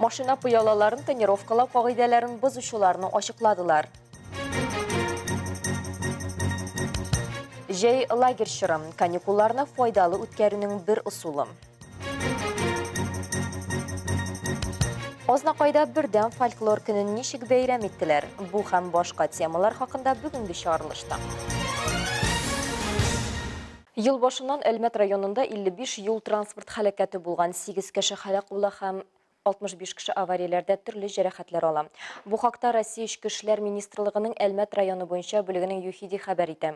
Машина пыялаларын тонировкалау кагыйдәләрен бозучыларны ачыкладылар. Җәй лагерь чырым, каникулларны файдалы үткәрүнең бер ысулы. Азнакайда бердәм фольклор көнен ничек бәйрәм иттеләр? Бу һәм башка темалар хакында бүгенге чыгарылышта. Ел башыннан Әлмәт районында 55 юл-транспорт һәлакәте булган, 8 кеше һәлак була һәм 65 кеше аварияләрдә төрле җәрәхәтләр ала. Бу хакта Россия Эчке эшләр министрлыгының Әлмәт районы буенча бүлегенең ЮХИДИ хәбәр итә.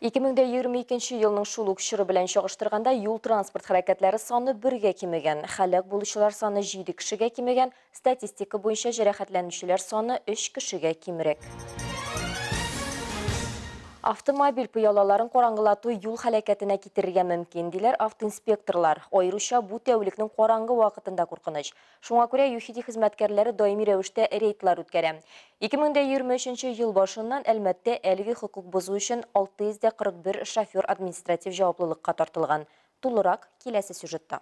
2022 елның шул ук чоры белән чагыштырганда, юл-транспорт һәлакәтләре саны бергә кимегән, һәлак булучылар саны җиде кешегә кимегән, Статистика буенча җәрәхәтләнүчеләр саны өч кешегә кимрәк. Автомобиль пыялаларын караңгылату юл хәләкәтенә китерергә мөмкин, диләр автоинспекторлар. Аеруча бу тәүлекнең караңгы вакытында куркыныч. Шуңа күрә ЮХИДИ хезмәткәрләре даими рәвештә рейдлар үткәрә. 2023 ел башыннан Әлмәттә әлеге хокук бозу өчен 641 шофер административ җаваплылыкка тартылган. Тулырак киләсе сюжетта.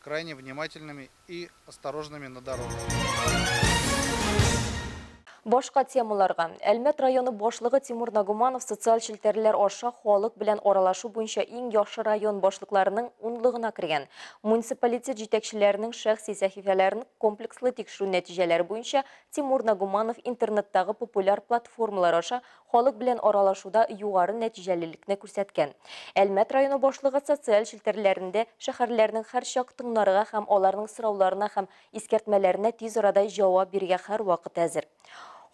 крайне внимательными и осторожными на дорогах. Башка темаларга. Әлмәт районы башлыгы Тимур Нагуманов социаль челтәрләр аша халык белән аралашу буенча иң яхшы район башлыкларының унлыгына кергән. Муниципалитет җитәкчеләренең шәхси сәхифәләрен комплекслы тикшерү нәтиҗәләре буенча Тимур Нагуманов интернеттагы популяр платформалар аша халык белән аралашуда югары нәтиҗәлелекне күрсәткән. Әлмәт районы башлыгы социаль челтәрләрендә шәһәрләрнең һәрчак тыңнарга һәм аларның сорауларына һәм искәртмәләренә тиз арада җавап бирергә һәрвакыт әзер.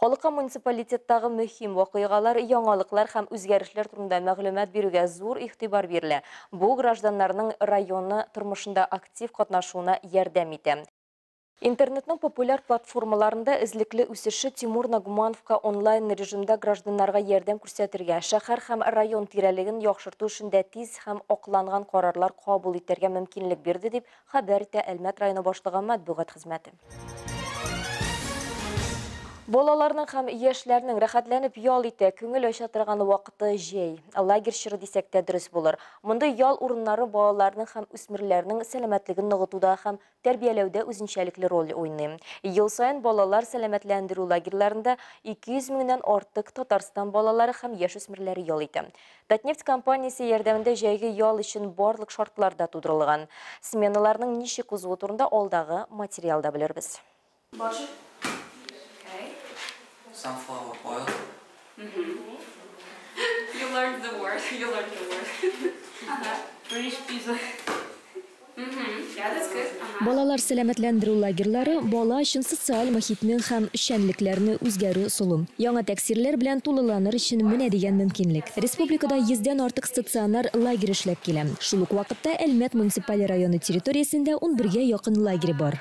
Халыкка муниципалитеттагы мөһим вакыйгалар, яңалыклар һәм үзгәрешләр турында мәгълүмат бирүгә зур игътибар бирелә. Бу гражданнарның районы тормышында актив катнашуына ярдәм итә. Интернетның популяр платформаларында эзлекле үсеше Тимур Нагумановка онлайн режимда гражданнарга ярдәм күрсәтергә, шәһәр һәм район тирәлеген яхшырту эшендә тиз һәм акланган карарлар кабул итәргә мөмкинлек бирде, дип хәбәр итә Әлмәт районы башлыгы матбугат хезмәте. Балаларның һәм яшьләрнең рәхәтләнеп ял итә, күңел ача торган вакыты җәй. Лагерь чоры дисәк тә дөрес булыр. Мондый ял урыннары балаларның һәм үсмерләрнең сәламәтлеген ныгытуда һәм тәрбияләүдә үзенчәлекле роль уйный. Ел саен балалар сәламәтләндерү лагерьларында 200 меңнән артык Татарстан балалары һәм яшүсмерләре ял итә. Татнефть компаниясе ярдәмендә җәйге ял өчен барлык шартлар да тудырылган. Сменаларның ничек узуы турында алдагы материалда белербез. Башы. Okay. Sunflower oil. Mm-hmm. you learned the word. You learned the word. uh-huh. British pizza. Балалар сәламәтләндерү лагерьлары бала өчен социаль мохитнең һәм эшчәнлекләрне үзгәрү солым. Яңа тәксирләр белән тулыланыр өчен менә дигән мөмкинлек. Республикада 100-дән артык стационар лагерь эшләп килә. Шул ук вакытта Әлмәт муниципаль районы территориясендә 11 гә якын лагерь бар.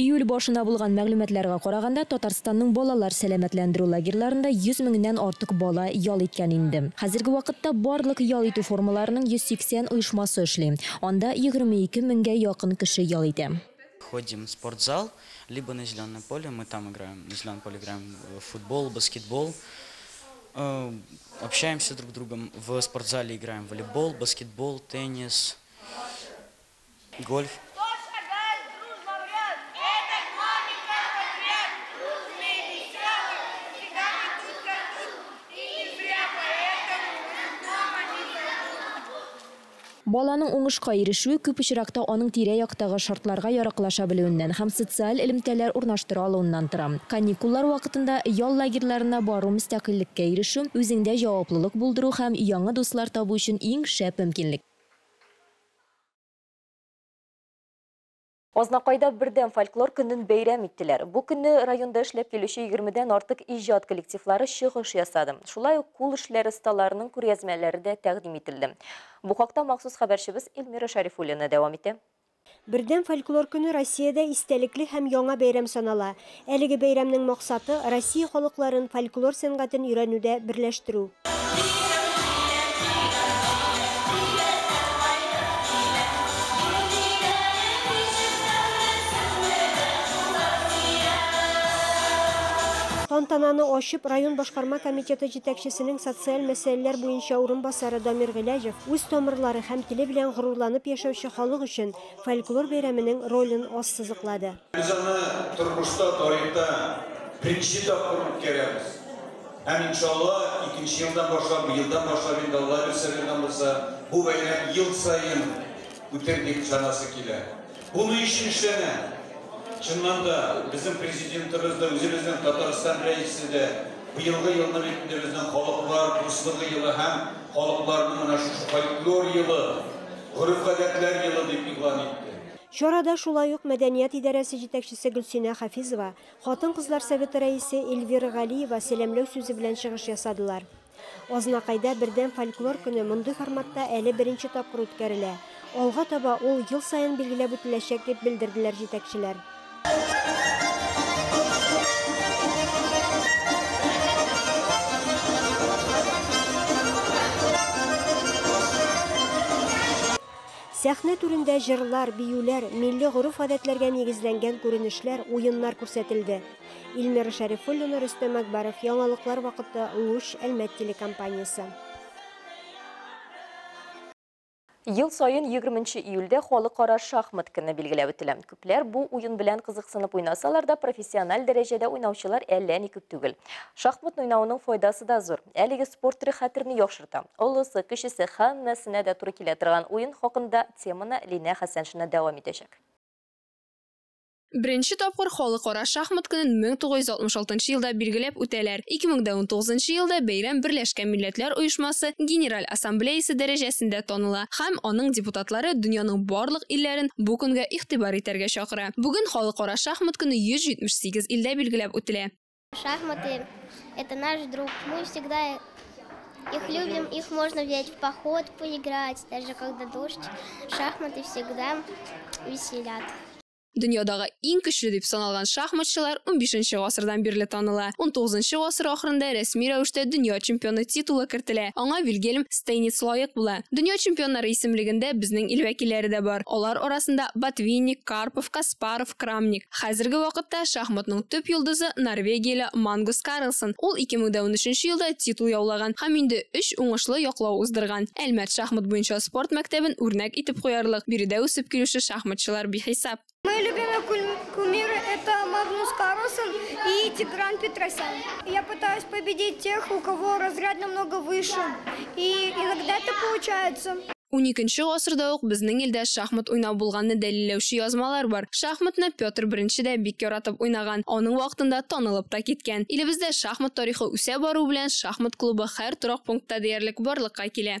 Июль башына булган мәгълүматларга караганда, Татарстанның балалар сәламәтләндерү лагерьларында 100 меңнән артык бала ял иткән инде. Хәзерге вакытта барлык ял итү формаларының 180 оешмасы эшли, анда 22 меңгә якын кеше ял итә. Ходим в спортзал, либо на зеленое поле, мы там играем, на зеленом поле играем в футбол, баскетбол, общаемся друг с другом, в спортзале играем в волейбол, баскетбол, теннис. Гольф. Баланың уңышка ирешүе күп очракта аның тирә-яктагы шартларга яраклаша белүеннән һәм социаль элемтәләр урнаштыра алуыннан тора. Каникуллар вакытында ял лагерьларына бару мөстәкыйльлеккә ирешү, үзеңдә җаваплылык булдыру һәм яңа дуслар табу өчен иң шәп мөмкинлек. Азнакайда бердәм фольклор көнен бәйрәм иттеләр. Бу көнне районда эшләп килүче егермедән артык иҗат коллективлары чыгыш ясады. Шулай ук кул эшләре осталарының күргәзмәләре дә тәкъдим ителде. Бу хакта махсус хәбәрчебез Эльмира Шәрифуллина дәвам итә. Бердәм фольклор көне Россиядә истәлекле һәм яңа бәйрәм санала. Әлеге бәйрәмнең максаты, Россия халыкларын, фольклор сәнгатен өйрәнүдә берләштерү. Тантананы ачып, район башкарма комитеты җитәкчесенең социаль мәсьәләләр буенча урынбасары Дамир Гыйләҗев үз тамырлары һәм теле белән горурланып яшәүче халык өчен фольклор бәйрәменең ролен ассызыклады. Без аны тормышта, тарихта беренче тапкыр үткәрәбез. Һәм иншалла, икенче елдан башлап, елдан башлап инде Алла ризыгыннан булса, бу бәйрәм ел саен үтер дип санасы килә. Бу ни өчен эшләнә? Чыннан да, безнең президентыбыз да, үзебезнең Татарстан рәисе дә быелгы елны бит безнең халыклар дуслыгы елы һәм халыкларның менә шушы фольклор елы, гореф-гадәтләр елы дип игълан итте. Чарада шулай ук мәдәният идарәсе җитәкчесе Гөлсинә Хафизова, хатын-кызлар советы рәисе Эльвира Галиева сәламләү сүзе белән чыгыш ясадылар. Азнакайда Бердәм фольклор көне мондый форматта әле беренче тапкыр үткәрелә, алга таба ул ел саен билгеләп үтеләчәк, дип белдерделәр җитәкчеләр. Сәхнә түрендә җырлар, биюләр, милли гореф-гадәтләргә нигезләнгән күренешләр, уеннар күрсәтелде. Илмира Шәрифуллина, Рөстәм Әкбаров, Яңалыклар вакыты, Луч, Әлмәт телекомпаниясе. Ел саен егерменче июльдә Халыкара шахмат көне билгеләп үтелә. Ләр бу уен белән кызыксынып уйнасалар да, профессиональ дәрәҗәдә уйнаучылар әллә ни күп түгел. Шахматны уйнауның файдасы да зур. Әлеге спорт төре хәтерне яхшырта. Олысы, кечесе, һәммәсенә дә туры килә торган уен хакында теманы Линә Хәсәншина дәвам итәчәк. Беренче тапкыр Халыкара шахмат көнен 1966 нчы елда билгеләп үтәләр. 2019 нчы елда бәйрәм Берләшкән Милләтләр Оешмасы Генераль Ассамблеясе дәрәҗәсендә таныла. һәм аның депутатлары дөньяның барлык илләрен бу көнгә игътибар итәргә чакыра. Бүген Халыкара шахмат көне 178 илдә билгеләп үтелә. Шахматы это наш друг. Мы всегда их любим, их можно взять в поход, поиграть, даже когда дождь. Шахматы всегда веселят. Дөньядагы иң көчле дип саналган шахматчылар 15 гасырдан бирле таныла. 19 гасыр ахырында рәсми рәвештә дөнья чемпионы титулы кертелә. Аңа Вильгельм Стейниц лаек була. Дөнья чемпионнары исемлегендә безнең ил вәкилләре дә бар. Алар арасында Ботвинник, Карпов, Каспаров, Крамник. Хәзерге вакытта шахматның төп йолдызы норвегияле Мангус Карлсон. Ул 2013 елда титул яулаган һәм инде 3 уңышлы яклау уздырган. Әлмәт шахмат буенча спорт мәктәбен үрнәк итеп куярлык биредә үсеп килүче шахматчылар бихисап. Мои любимые кумиры это Магнус Карлсон и Тигран Петросян. Я пытаюсь победить тех, у кого разряд намного выше. И иногда это получается. Уникенче гасырда ук безнең илдә шахмат уйнау булганны дәлилләүче язмалар бар. Шахматны Петр I дә бик яратып уйнаган, аның вакытында танылып та киткән. Илебездә шахмат тарихы үсә бару белән шахмат клубы һәр торак пунктта диярлек барлыкка килә.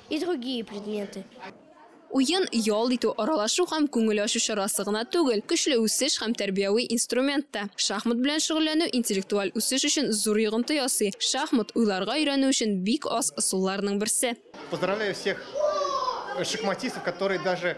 И другие предметы. Уен, ял итү, аралашу һәм күңел ачу чарасы гына түгел, көчле үсеш һәм тәрбияви инструмент та. Шахмат белән шөгыльләнү интеллектуаль үсеш өчен зур йогынты ясый. Шахмат, уйларга өйрәнү өчен бик аз ысулларның берсе. Поздравляю всех шахматистов, которые даже